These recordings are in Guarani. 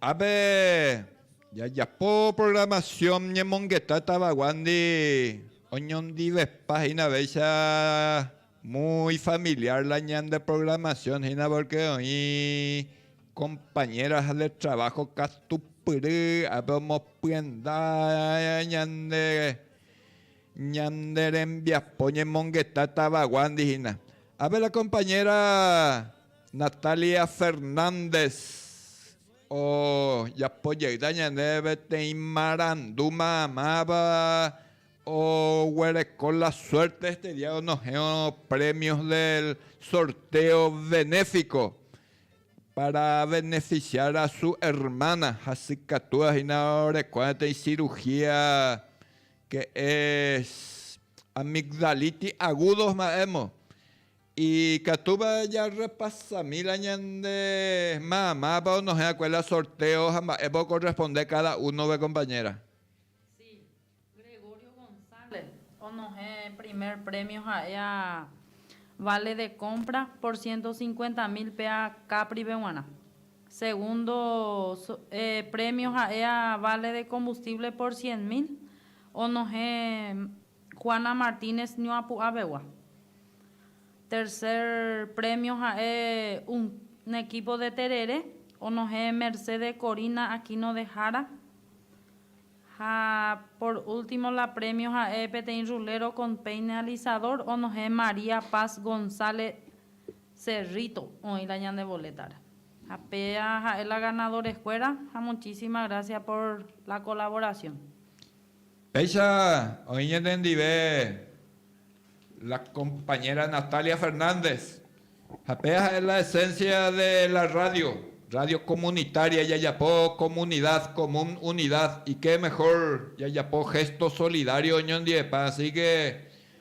Ápe jajapo programación ñemongeta tavaguándi oñondivepa hínavéicha muy familiar la ñande programación hína porque oĩ compañeras de trabajo katupyry ápe omopyenda ñande Ñande rembiapo ñemongeta tavaguándi hína. Ápe la compañera Natalia Fernández ojapo jeýta ñandéve peteĩ marandu mamáva oguereko la suerte este día onohẽvo premios del sorteo benéfico para beneficiar a su hermana, hasykatúva hína oreko peteĩ cirugía que es amigdalitis agudos mba'émo, ikatúva jarrepasami la ñande mamápa onohẽ'akue la sorteo ha mba'épa okorresponde káda únove kompañéra. Si, Gregorio González onohẽ primer prémio ha'e a vale de compra por ciento cincuenta mil péa Capripe g̃uarã. Segundo premio ha'éa vale de combustible por cien mil, onohẽ Juana Martínez Ñuapu'avegua. Tercer premio ha'e un equipo de terere, onohẽ Mercedes Corina Aquino de Jara. Ha por último la premio ha'e peteĩ rulero con peine alisador, onohẽ María Paz González Cerrito oĩ la ñane boletare. Ha péa ha'e la ganador escuera ha muchísima gracias por la colaboración. Péicha oĩ ñanendive la compañera Natalia Fernández ha péa ha'e la esencia de la radio, radio comunitaria yajapo comunidad común unidad y qué mejor yajapo gesto solidario oñondivepa asi que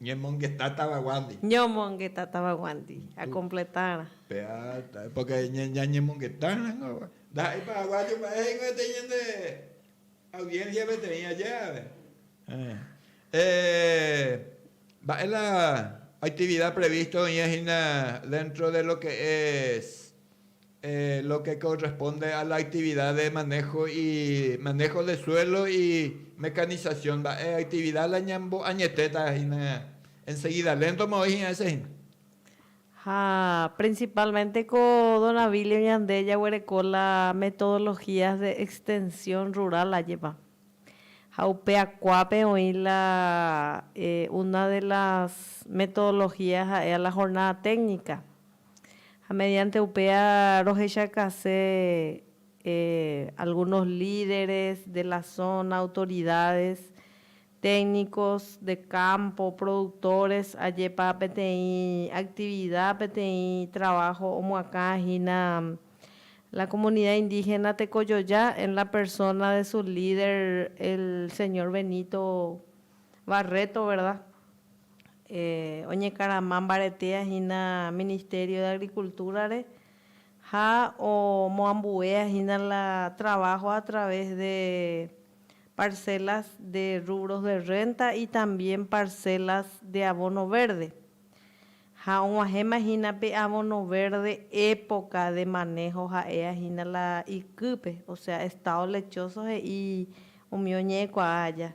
Ñemongeta tavaguándi. Ñomongeta tavaguándi. Akompletárã. Péva, pórke ñañemongetárãngo, ndaha'éi paraguáyo mba'e he'ivétei ñande audiénsia peteĩ aje ape. Mba'e la aktivida prevísto oĩva hína déntro de lo ke es lo que corresponde a la actividad de manejo y manejo de suelo y mecanización mba'e actividad la ñambo añetéta hína enseguida lento ma oĩ hína ese hína. Ha principalmente ko don Abilio ñande jaguereko la metodologías de extensión rural ajépa. Ha upe akuápe oĩ la una de las metodologías ha'e a la jornada técnica Ha mediante upéa rohechakase algunos líderes de la zona, autoridades, técnicos de campo, productores, ajépa peteĩ actividad, peteĩ trabajo omoakãha hína la comunidad indígena Tekojoja en la persona de su líder el señor Benito Barreto, verdad? oñekarama mbaretéa hína Ministerio de Agricultura-re ha omoambuéa hína la trabajo a través de parcelas de rubros de renta y también parcelas de abono verde. Ha og̃uahẽma hína pe abono verde época de manejo ha'éa hína la ikýpe, o sea, estado lechoso he'i umi oñe'ẽkuaa aja.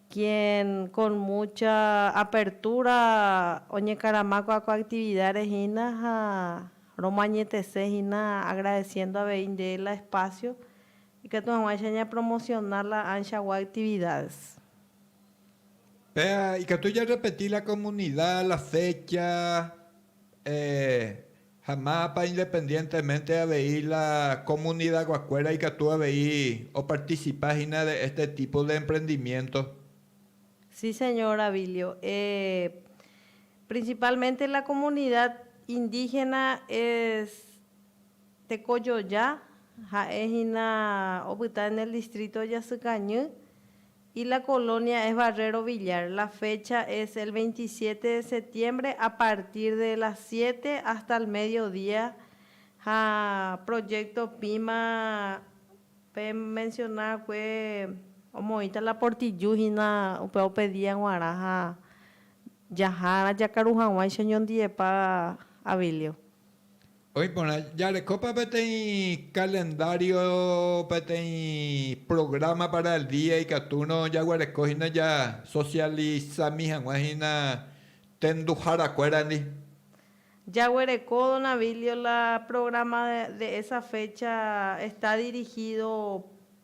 quien con mucha apertura oñekarama ko ko actividad re hína ha romañetese hína agradeciendo avei nde la espacio ikatu haguãicha ña promocionar la ancha gua actividades. Péa ikatu ja repeti la comunidad, la fecha, eh. Ha mávapa independientemente avei la comunidaguakuéra ikatu avei oparticipa hína de este tipo de emprendimiento? Sí, señor Abilio. Eh, principalmente la comunidad indígena es tekojoja, ha'e hína opyta en el distrito Jasykañy, Y la colonia es Barrero Villar, la fecha es el veintisiete de septiembre a partir de las siete hasta el medio día ha proyecto pima pe menciona va'ekue omoĩta la portillu hína upéva opedía g̃uarã ha jahárã jakaru hag̃uáicha oñondivepa Abilio. Oĩ porã, jarekópa peteĩ kalendário, peteĩ prográma pára el día ikatúrõ jaguareko hína jasosialisami hag̃ua hína tenduhárakuérandi. Jaguereko, don Abilio, la prográma de esa fécha está dirigído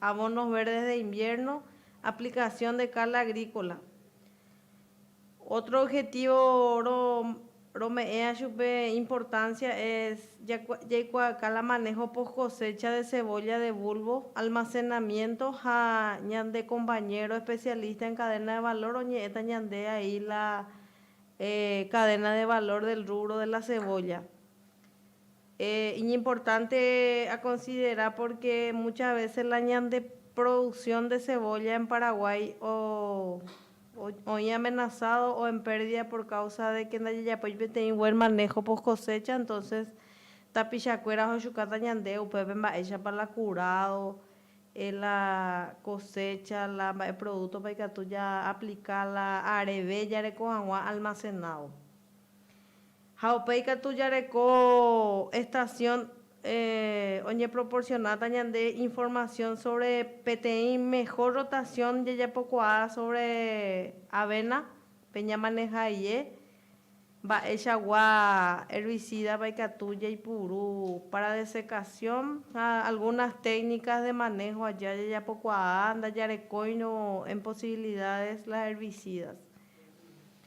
Abonos verdes de invierno, aplicación de cal agrícola. Otro objetivo ro rome'ẽa chupe importancia es jakua jaikuaaka la manejo post cosecha de cebolla de bulbo, almacenamiento ha ñande compañero especialista en cadena de valor oñe'ẽta ñande ahí la eh cadena de valor del rubro de la cebolla. Iñimportánte akonsidera pórke mucha vése la ñandeproduksión de cebolla en Paraguái oĩ amenasádo o en pérdida por káusa de ke ndajajapói peteĩ buen maného poskosécha, entónses tapichakuéra ohechukáta ñande upépe mba'éichapa la kurádo la kosécha, la mba'e prodútopa ikatu jaaplika, la areve jareko hag̃ua almasenádo. Ha upéi katu jareko estación oñeproporcionáta ñande información sobre peteĩ mejor rotación jajapokuaa sobre avena pe ñamaneja ie, mba'eichagua herbicídapa ikatu jaipuru para desecación ha algunas técnicas de manejo aja jajapokuaa ndajarekóirõ en posibilidades las herbicidas.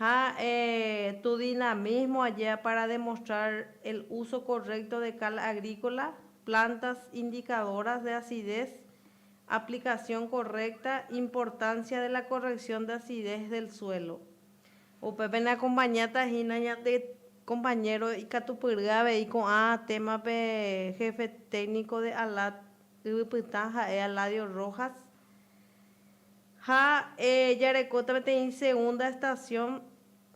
Ha tu dinamismo ayea para demostrar el uso correcto de cal agrícola, plantas indicadoras de acidez, aplicación correcta, importancia de la corrección de acidez del suelo. Upépe ne acompañáta hína ñande compañero ikatupyry avei ko'ã témape Jefe Técnico de ALAD yvypytã, ha'e Aladio Rojas. Ha jarekóta peteĩ segunda estación,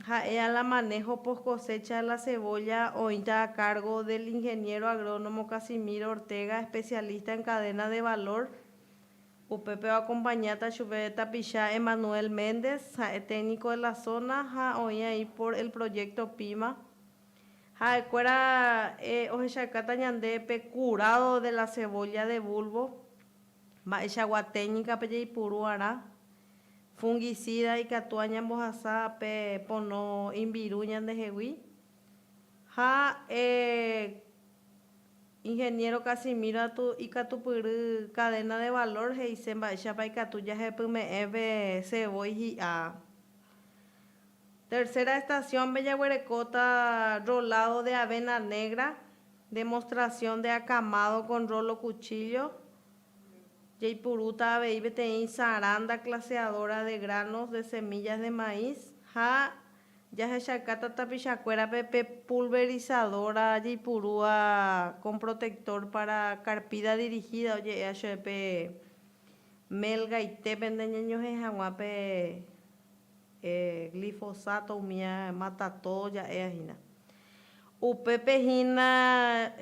ha'e a la manejo post cosecha de la cebolla, oĩta a cargo del Ingeniero Agrónomo Casimiro Ortega, especialista en cadena de valor. Upépe oacompañáta chupe tapicha Emmanuel Méndez, ha'e técnico de la zona ha oĩ aĩ por el proyecto Pima. Ha'ekuéra ohechakáta ñande pe curado de la cebolla de bulbo, Mba'eichagua téknika pe jaipuru arã fungisida ikatu añambohasa pe pono imbiru ñandehegui? Ha e Ingeniero Casimiro atu ikatupyry cadena de valor he'ise mba'éichapa ikatu jahepyme'ẽ pe cebolla hi'a. Tercera estación-pe jaguerekóta rolado de avena negra Demostración de acamado con rolo cuchillo, Jaipurúta avei peteĩ saranda claseadora de granos de semillas de maíz ha jahechakáta tapichakuérape pe pulverizadora jaipurúva con protector para carpida dirigida, oje'éa chéve pe mel gaite pende ñañohẽ hag̃ua pe Glifosato umi matato ja'éva hína. Upépe hína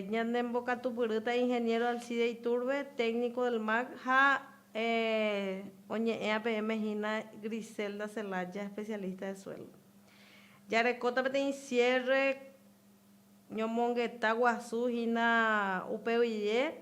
ñanembokatupyrýta Ingeniero Alcide Iturbe, técnico del MAC, ha oñe'ẽva peẽme hína Griselda Celaya, especialista de suelo. Jarekóta peteĩ cierre ñomongeta guasu hína upe guive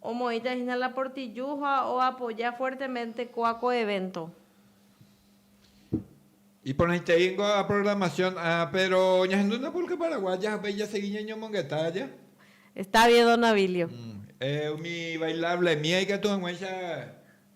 Omoĩta hína la Portillo ha oapoja fuertemente kóa ko evento. Iporãitei ningo a programación a pero ñahendu na pulka paraguaya ha upéi jasegi ñañomongeta aja. Está bien don Abilio. Umi bailable mía ikatu hag̃uáicha.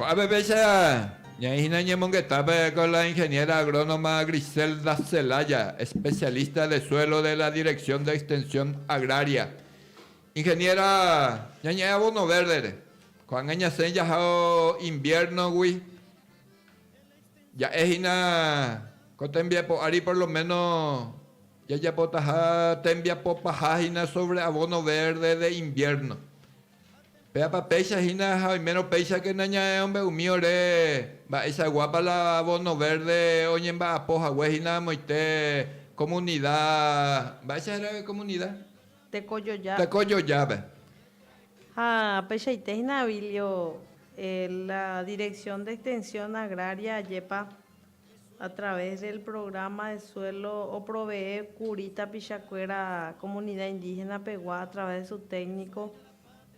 Ko'ápepecha ñaĩ hína ñemongetápe ko la ingeniera agrónoma Griselda Celaya, especialista de suelo de la Dirección de Extensión Agraria. Ingeniera, ñañe'ẽ abono verde-re, ko'ág̃a ñasẽ jahao invierno-gui, ja'e hína ko tembiapo ári por lo menos, Jajapotaha tembiapo paha hína sobre abono verde de invierno. Péapa péicha hína ha oimérõ péichake nañae ombe'u mi ore mba'eichaguápa la abono verde oñemba'apo hague hína amoite comunida, mba'éicha héra comunida? Tekojoja. Tekojojápe. Ha peichaite hína, Abilio, la Dirección de Extensión Agraria ajépa a través del programa de suelo oprovee kuri tapicha kuéra comunidad indígena pegua a través de su técnico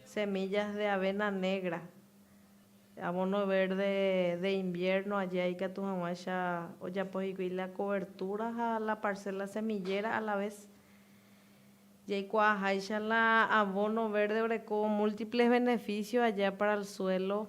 semillas de avena negra, abono verde de invierno aja ikatu haguãicha ojapo hikuí la cobertura ha la parcela semillera a la vez jaikuaa háicha la abono verde oreko múltiples beneficios aja para el suelo.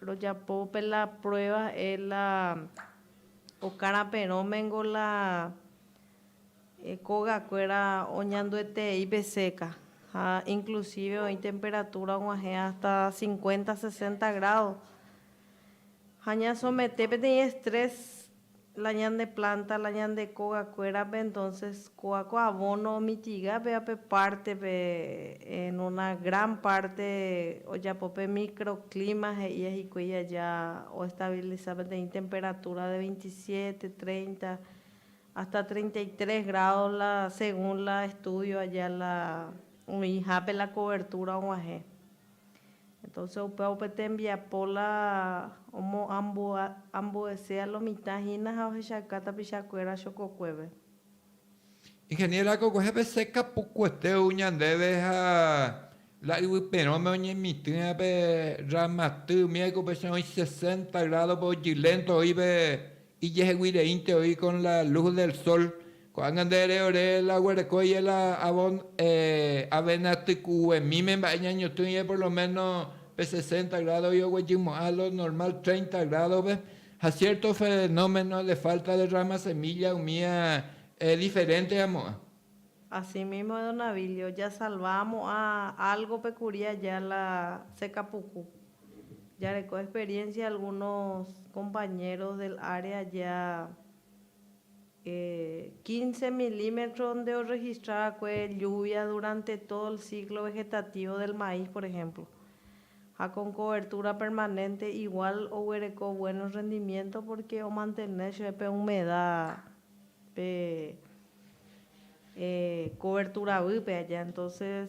Rojapo pe la prueba e la okara perõ mengo la e koga kuera oñandueteei pe seca ha inclusive oi temperatura oguahẽ hasta 50, 60 grado ha ña somete peteĩ estrés la ñande planta, la ñande kóga kuérape, entonces kóa ko abono omitiga péva pe pártepe, en una gran parte ojapo pe microclima he'íva hikuái aja oestabiliza peteĩ temperatura de veintisiete, treinta, hasta treinta y tres grados la según la estudio aja la oĩhápe la cobertura og̃uahẽ. Entonce upéva upe tembiapo la omo ambuesé a lo mitã hína ha ohechauka tapicha kuéra chokokuéve. Ingeniera ko kuehépe se kapukuete ou ñandéve ha la yvyperõme oñemitỹva pe rramaty umi aiko pe che oĩ sesenta grádope ojylento oíve Ijeheguireínte oĩ con la luz del sol, ko'ág̃a nde ere ore la oguereko ie la avon, eh, avena tykuguemíme mba'e ñañotỹ ie por lo meno pe sesenta grado oĩ oguejymo'ã lo normal treinta grado-pe, ha cierto fenómeno de falta de rama semilla umi eh, diferente amo'ã. Así mismo Edonavilio, jasalva amo'ã algo-pe kuri aja la sekapuku. Jareko experiencia algunos compañeros del área ya quince milímetros nde orregistra va'ekue lluvia durante todo el ciclo vegetativo del maíz, por ejemplo. Ha con cobertura permanente igual oguereko buenos rendimientos porque omantene chéve pe humedad pe coberturavýpe aja. Entonces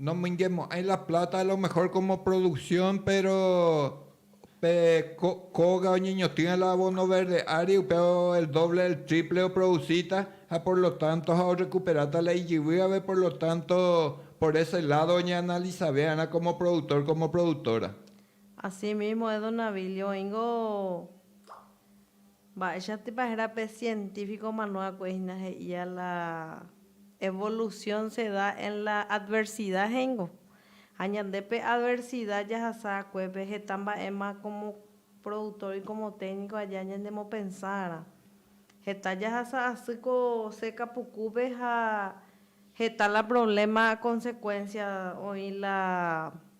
Nomoingemo'ãi la pláta a lo mehór kómo produksión, péro pe kóga oñeñotỹva la abóno verde ári, upéva el dóvle, el tríple oprodusíta, ha por lo tánto ha orrekuperáta la ijyvývare, por lo tánto por ése ládo oñeanalisave va'erã kómo produktór, kómo produktóra. Asímísmo Edon Navilio oĩngo. Mba'éichatipa héra pe sientífiko mano'akue hína he'íva la evolusión se da en la adversidad he'íngo. Ha ñande pe adversidad jahasa'akue pe heta mba'éma como productor y como técnico aja ñanemopensárarã. Heta jahasa asy ko seca pukúpe ha heta la problema consecuencia oĩ la.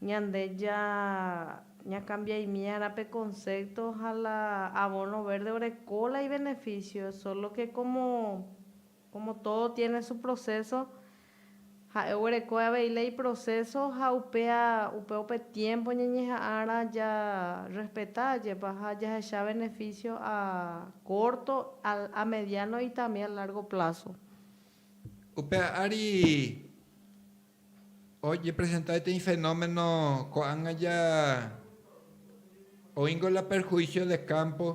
Ñande ja ñakambiaimiarã pe concepto ha la abono verde oreko la ibeneficio, solo que como como todo tiene su proceso, ha'e oguerekói avei la iproceso ha upéa upe upe tiempo ñañeha'ãrã ja respeta jepa ha jahecha beneficio a corto, a mediano y también a largo plazo. Upe ári Ojepresenta peteĩ fenómeno ko'ág̃a ja oĩngo la perhuísio de kámpo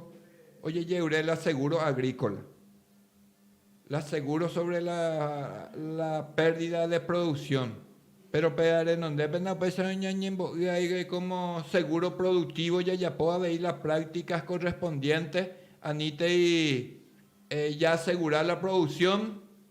ojeje'yre la segúro agríkola, la segúro sóvre la pérdida de produksión. Péro pe renondépena upéicharõ ñañembo'y aígui kómo segúro produktívo jajapo avei la práktika korrespondiénte anítei jaasegura la produksión.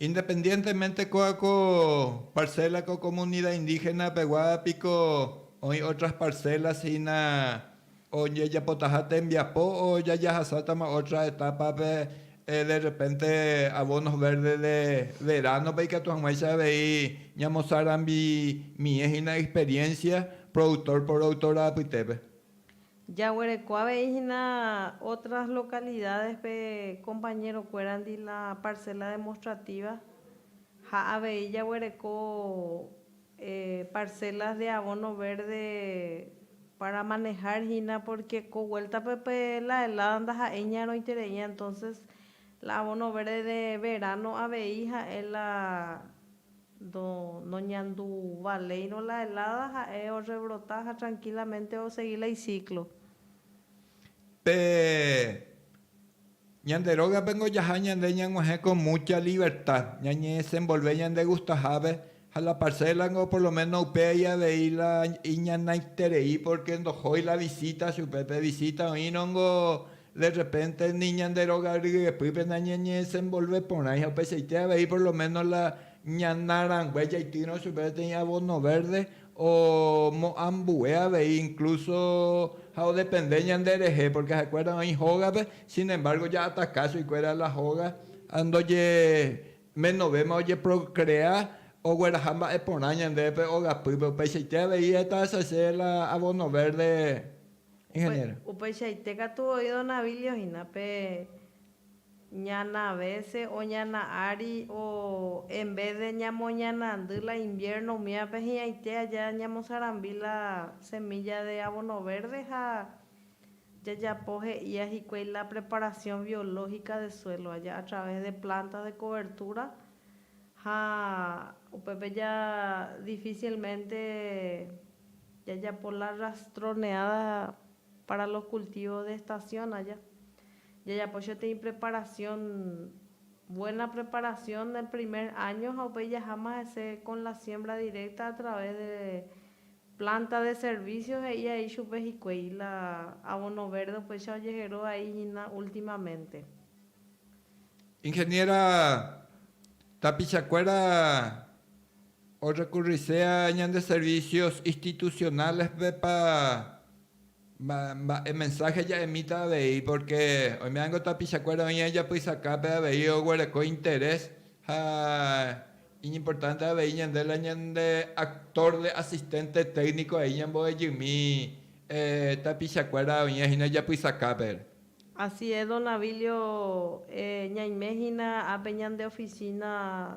Independientemente kóa ko parcela ko comunidad indígena pegua piko oĩ otras parcelas hína ojejapotaha tembiapo o jajahasátama otra etapa pe de repente abonos verdes de verano pe ikatu hag̃uáicha avei ñamosarambimie hína experiencia productor por autor apytépe. Jaguereko avei hína otras localidades-pe compañero-kuérandi la parcela demostrativa ha avei jaguereko parcelas de abono verde para manejar hína porque ko vuelta-pe pe la helada ndaha'éi ñaroitereíva entonces la abono verde de verano avei ha'e la Ndo, noñandu valéirõ la helada, ha'e orrebrota ha tranquilamente osegi la iciclo. Pe ñande rógape ngojaha ñande ñag̃uahẽ con mucha libertad, ñañedesenvolve ñandegustahápe, ha la parcela-ngo por lo menos upéai avei la iñanaiterei, porque ndohói la visita chupe, pe visita oĩrõngo De rrepénte ni ñande róga ryepýpe nañañedesenvolve porãiha upeichaite avei por lo ménos la ñana rangue jaitýrõ chupe peteĩ abono vérde omo'ã ambue avei inklúso ha odepende ñanderehe, pórke ha'ekuéra oĩ hógape, sin embárgo ja'ataka chuguikuéra la hóga ha ndoñemenovéma ojeprokrea ogueraha mba'e porã ñandéve pe ógapýpe. Upeichaite avei heta che la abono vérde. Ingeniero. Upeichaite katu voi don Abilio hína pe ñana vece o ñana ári o en vez de ñamoñanandy la invierno umívape hi'ãite aja ñamosarambi la semilla de abono verde ha jajapo he'ia hikuái la preparación biológica de suelo aja a través de plantas de cobertura ha upépe ja difícilmente Jajapo la rastroneada para los cultivos de estación aja. Jajapo choteĩ preparación, buena preparación del primer año ha upéi jaháma hese con la siembra directa a través de planta de servicio he'i a'i chupe hikuei, la abono verde upéicha ojehero a'i hína ultimamente. Ingeniera, tapichakuéra. Orrekurrisea ñande servicios institucionales-pépa mba'e mensaje ja'emíta avei, porque oime'ãngo tapichakuéra oĩ ijapysakápe avei oguereko interés ha iñimportánte avei ñande la ñande actor de asistente técnico ahí ñambo'ejymi tapichakuéra oĩva hína ijapysakápe. Así es, don Abilio, ñaime hína ápe ñande oficina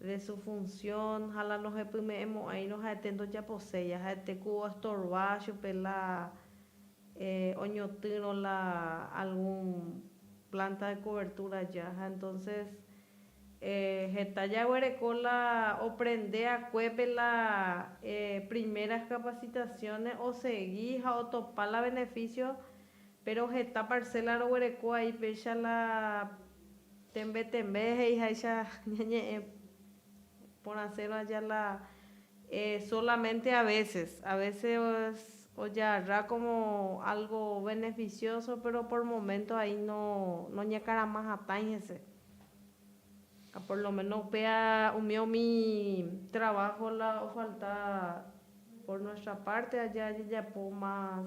de su función ha la nohepyme'ẽmo'ãirõ ha'ete ndojaposéi ha ha'ete ku oestorva chupe la oñotỹrõ la algún planta de cobertura aja ha entonces heta jaguereko la oprende akuépe la primeras capacitaciones osegi ha otopa la beneficio pero heta parcela roguereko ai péicha la Tembe tembe he'i háicha ñañe'ẽ porãsérõ aja la e solamente a veces, a veces ojarra como algo beneficioso pero por momento ahí no noñekarama hatãi hese. Ha por lo menos upéva umi umi trabajo la ofalta por nuestra parte aja jajapo más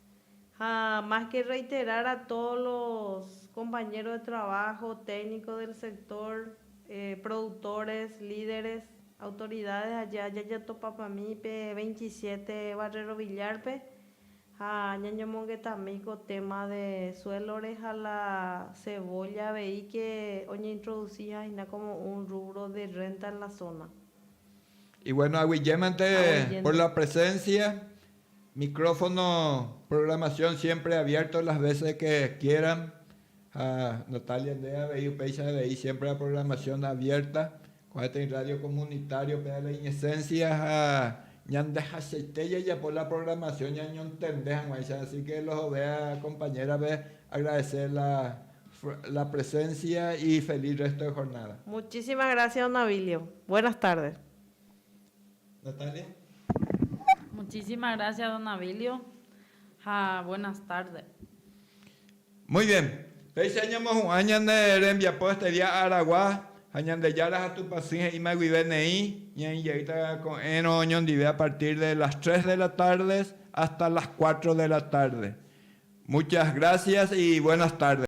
Ha más que reiterar a todos los compañeros de trabajo, técnicos del sector, productores, líderes, autoridades aja jajatopapami pe 27 Barrero Villar-pe ha ñañomongetami ko tema de suelo-re ha la cebolla avei que oñeintroduci ha'ehina como un rubro de renta en la zona. Y bueno, aguiyémante por la presencia Micrófono programación siempre abierto las veces de que quieran ha Natalia nde avei upéicha avei siempre la programación abierta kuae teĩ radio comunitario pe la inesencia ha ñandehachaite jajapo la programación ñañontende hag̃uáicha así que los jove a compañera-pe agradece la presencia y feliz resto de jornada. Muchísimas gracias don Abilio. Buenas tardes. Natalia. Muchísima grásia don Abilio ha buenas tarde. Muy bien. Péicha ñamohu'ã ñane rembiapo este día Aragua ha Ñandejára ha Tupã sỹ he'íma guive neĩ ñaĩjeýta ko'ẽrõ oñondive a partir de las tres de la tardes hasta las cuatro de la tarde. Muchas gracias y buenas tardes.